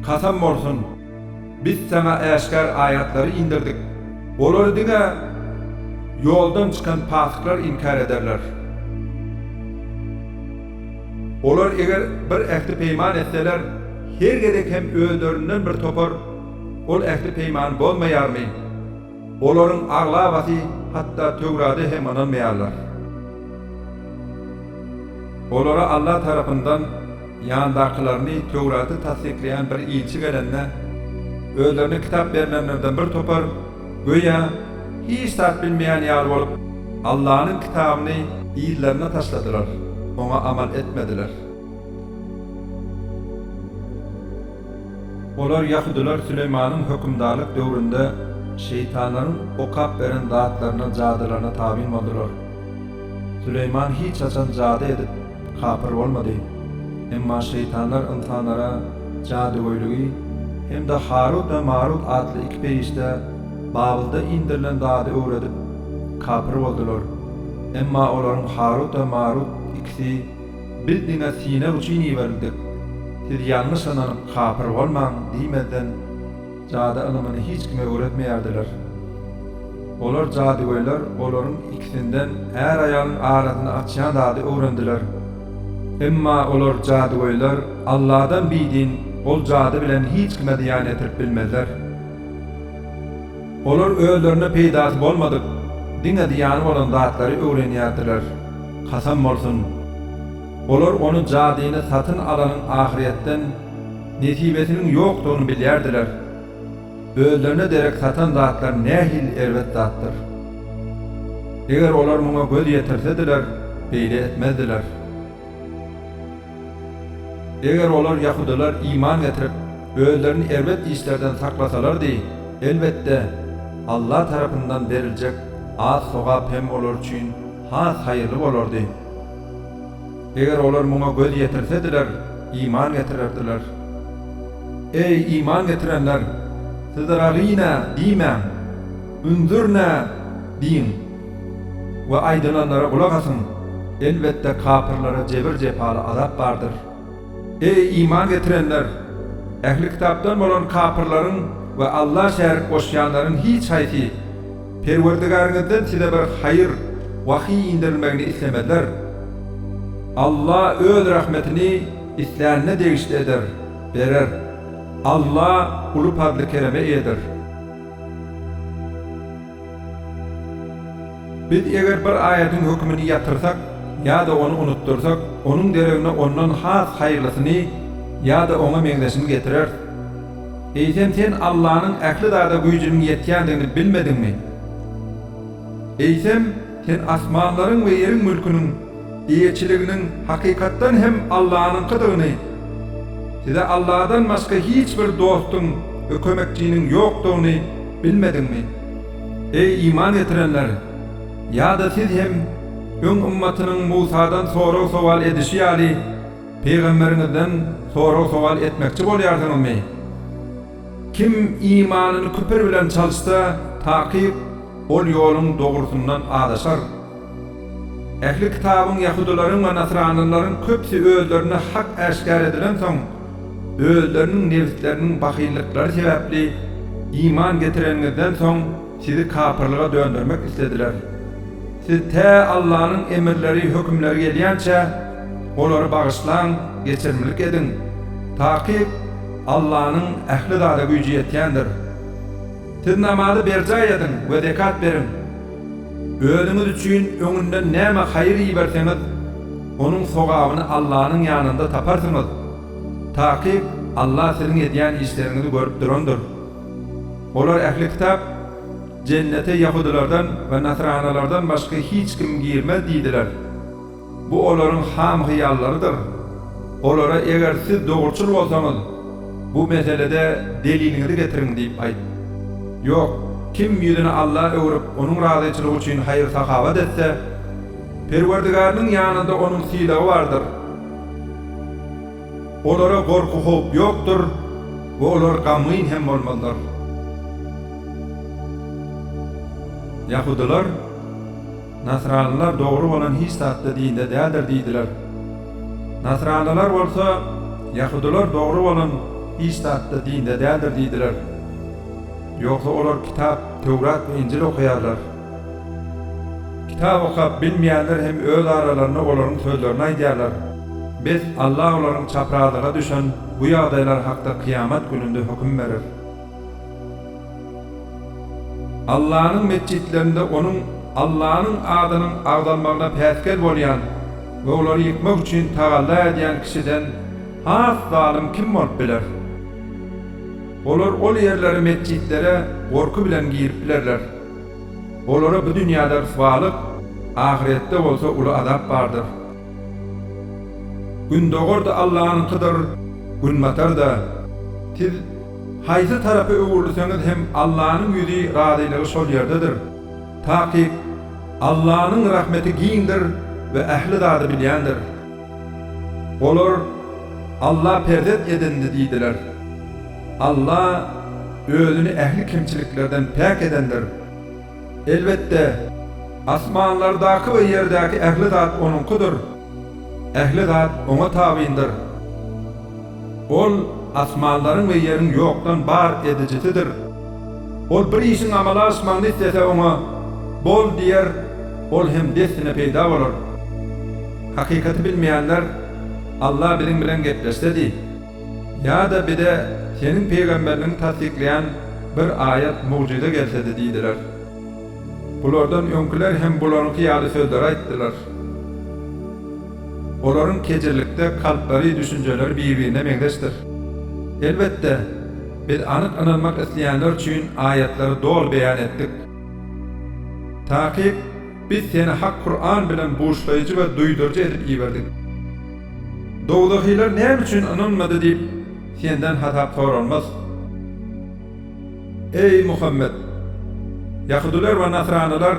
Kasam bolsun! Biz Saňa äşgär aýatlary indirdik. Olary diňe Ýoldan çykan pasyklar inkär ederler. Olar eger bir ähdi-peýman etseler, her gezek hem özlerinden bir topar ol ähdi-peýmany bozmaýarmy? Olaryň aglabasy hatda Töwrada hem ynanmaýarlar. Olara Alla tarapyndan ýandakylaryny Töwraty tassyklaýan bir ilçi gelende, özlerine kitap berlenlerden bir topar, göýä, hiç zat bilmeýän ýaly bolup, Allanyň kitabyny yzlaryna taşladylar, oňa amal etmediler. Olar ýahudylar Süleýmanyň hökümdarlyk döwründe şeýtanlaryň okap beren zatlaryna, jadylaryna tabyn boldular. Süleýman hiç haçan jady edip, kapyr bolmady. Emma şeýtanlar ynsanlara jadygöýligi hem-de Harut we Marut atly iki perişdä Babylda indirilen zady öwredip, kapyr boldular. Emma olaryň Harut we Marut ikisi Biz diňe synag üçin iberildik. Siz ýalňyş ynanyp kapyr bolmaň diýmezden jady ylymyny hiç kime öwretmeýärdiler. Olar jadygöýler olaryň ikisinden är-aýalyň arasyny açýan zady öwrendiler. Emma olar jadygöýler Alladan bidin ol jady bilen hiç kime zyýan ýetirip bilmezler. Olar özlerine peýdasy bolmadyk, diňe zyýany bolan zatlary öwrenýärdiler. Kasam bolsun! Olar ony jadyny satyn alanyň ahyretden nesibesiniň ýokdugyny bilýärdiler. Özlerine derek satan zatlar nähili erbet zatdyr! Eger olar muňa göz ýetirsediler, beýle etmezdiler. Eger olar, ýahudylar, iman getirip, özlerini erbet işlerden saklasalardy, elbetde, Alla tarapyndan beriljek az sogap hem olar üçin has haýyrly bolardy. Eger olar muňa göz ýetirsediler, iman getirerdiler. Eý, iman getirenler! Siz Ragynä! diýmäň. Unzürnä! diýiň. We aýdylanlara gulak asyň! Elbetde, kapyrlara jebir-jepaly azap bardyr. Eý, iman getirenler! Ähli kitapdan bolan kapyrlaryň we Alla şärik goşýanlaryň hiç haýsy Perwerdigäriňizden size bir haýyr, wahýy indirilmegini islemezler. Alla Öz rahmetini islänine degişli eder, berer. Alla uly pazly-kereme eýedir. Biz eger bir aýadyň hökümini ýatyrsak ýa-da ony unutdyrsak, onuň deregine ondan has haýyrlysyny ýa-da oňa meňzeşini getireris. Eýsem sen Allanyň ähli zada güýjüniň ýetýändigini bilmediňmi? Eýsem, sen asmanlaryň we ýeriň mülküniň Eýeçiliginiň hakykatdan hem Allanyňkydygyny, size Alladan başga hiç bir dostuň we kömekçiniň ýokdugyny bilmediňmi? Eý, iman getirenler! Ýa-da siz hem öň ymmatynyň Musadan sorag-sowal edişi ýaly, pygamberiňizden sorag-sowal etmekçi bolýarsyňyzmy? Kim imanyny küpür bilen çalyşsa, takyk, ol ýoluň dogrusyndan azaşar. Ähli Kitabyň ýahudylaryň we nasranylaryň köpüsi özlerine hak äşgär edilensoň, özleriniň nebisleriniň bahyllyklary sebäpli iman getireniňizden soň sizi kapyrlyga döndermek islediler. Siz tä Allanyň emirleri, hökümleri gelýänçä, olary bagyşlaň, geçirimlik ediň. Takyk, Allanyň ähli zada güýji ýetýändir. Siz namazy berjaý ediň we zekat beriň. Özüňiz üçin öňünden näme haýyr iberseňiz, onuň sogabyny Allanyň ýanynda taparsyňyz. Takyk Alla siziň edýän işleriňizi görüp durandyr. Olar, ähli kitap, Jennete ýahudylardan we nasranalardan başga hiç kim girmez diýdiler. Bu olaryň ham hyýallarydyr. Olara eger siz dogruçyl bolsaňyz, bu meselede deliliňizi getiriň diýip aýt. Ýok, kim ýüzüni Alla öwrüp, Onuň razyçylygy üçin haýyr-sahawat etse, Perwerdigariniň ýanynda onuň sylagy bardyr. Olara gorky-howp ýokdur we olar gamgyn hem bolmazlar. Ýahudylar. Nasranlylar dogry bolan hiç zat-da dinde däldir diýdiler. Nasranlylar bolsa, Ýahudylar dogry bolan hiç zat-da dinde däldir diýdiler. Ýogsa olar kitap, Töwrat we Injil okaýarlar. Kitap okap bilmeýänler hem öz aralarynda olaryň sözlerini aýdýarlar. Bes, Alla olaryň çaprazlyga düşen bu ýagdaýlary hakda kyýamat gününde höküm berer. Allanyň metjitlerinde Onuň, Allanyň adynyň agzalmagyna päsgel bolýan we olary ýykmak üçin tagalla edýän kişiden has zalym kim bolup biler? Olar ol ýerlere, metjitlere, gorky bilen girip bilerler. Olara bu dünýäde ryswalyk, ahyretde bolsa uly azap bardyr. Gündogar-da Allanyňkydyr, günbatar-da. Siz Haýsy tarapa öwrülseňiz hem Allanyň ýüzi, razylygy şol ýerdedir. Takyk, Allanyň rahmeti giňdir we ähli zady bilýändir. Olar, Alla perzent edindi diýdiler. Alla Özüni ähli kemçiliklerden päk edendir. Elbetde, asmanlardaky we ýerdäki ähli zat Onuňkydyr. Ähli zat Oňa tabyndyr. Ol asmanlaryň we ýeriň ýokdan bar edijisidir. Ol bir işiň amala aşmagyny islese oňa, Bol! diýer, ol hem dessine peýda bolar. Hakykaty bilmeýänler, Alla biziň bilen gepleşsedi! Ýa-da bize Seniň pygamberligiňi tassyklaýan bir aýat, mugjyza gelsedi diýdiler. Bulardan öňküler hem bularyňky ýaly sözleri aýtdylar. Olaryň kejirlikde kalplary, düşünjeleri bir-birine meňzeşdir. Elbetde, biz anyk ynanmak isleýänler üçin aýatlary doly beýan etdik. Takyk, biz seni hak Kuran bilen buşlaýjy we duýduryjy edip iberdik. Dowzahylar näme üçin ynanmady diýip, senden hasap soralmaz. Eý, Muhammet! Ýahudylar we nasranylar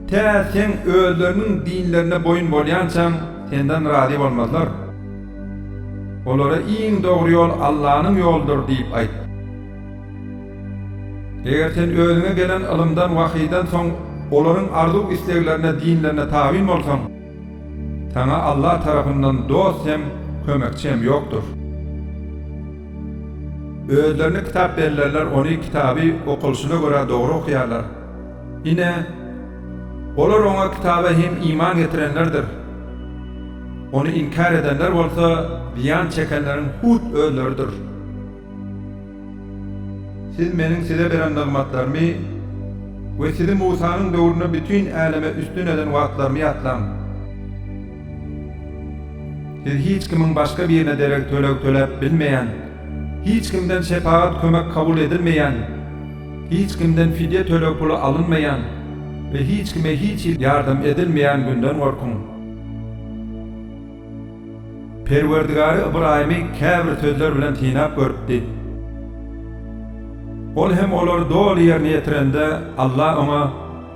tä seň özleriniň dinlerine boýun bolýançaň senden razy bolmazlar. Olara iň dogry ýol Allanyň ýoludyr diýip aýt. Eger sen özüňe gelen ylymdan, wahydan soň olaryň arzuw-isleglerine, dinlerine tabyn bolsaň, saňa Allah tarapyndan dost hem, kömekçi hem ýokdur. Özlerini kitap bellerler ony kitaby okalyşyna görä dogry okýarlar. Ine, olar oňa kitaba hem iman getirenlerdir. Ony inkär edenler bolsa zyýan çekenleriň hut özleridir. Siz Meniň size beren nygmatlarymy we sizi Musanyň döwründe bütin äleme üstün eden wagtlarymy ýatlaň. Siz hiç kimiň başga birine derek töleg töläp bilmeýän, hiç kimden şepagat kömek kabul edilmeýän, hiç kimden fidýe töleg puly alynmaýan we hiç kime hiç hili ýardam edilmeýän günden gorkuň. Perwerdigary Ybraýymy käbir sözler bilen synap görüpdi. Ol hem olary doly ýerine ýetirende, Alla oňa,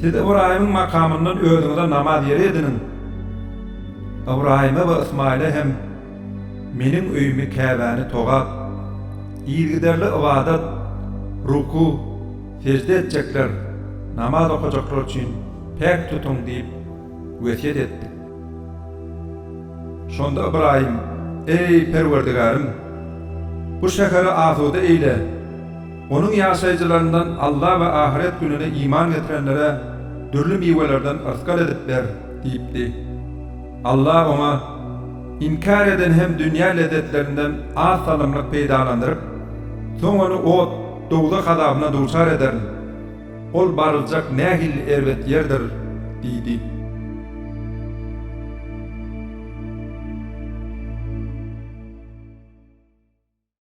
Siz Ybraýymyň makamyndan özüňize namaz ýeri ediniň. Ybraýyma we Ysmaýyla hem Meniň öýümi, Käbäni togap, yzygiderli ybadat, ruku, sežde etjekler, namaz okajaklar üçin päk tutuň diýip wesýet etdik. Şonda Ybraýym, Eý, Perwerdigärym! Bu şäheri asuda eýle. Onuň ýaşaýjylaryndan Alla we ahyret gününe iman getirenlere dürli miwelerden yrsgal edip ber diýipdi. Alla oňa, Inkär edeni hem dünýä lezzetlerinden az salymlyk peýdalandyryp, soň ony ot, dowzah azabyna duçar ederin. Ol baryljak nähilli erbet ýerdir! diýdi.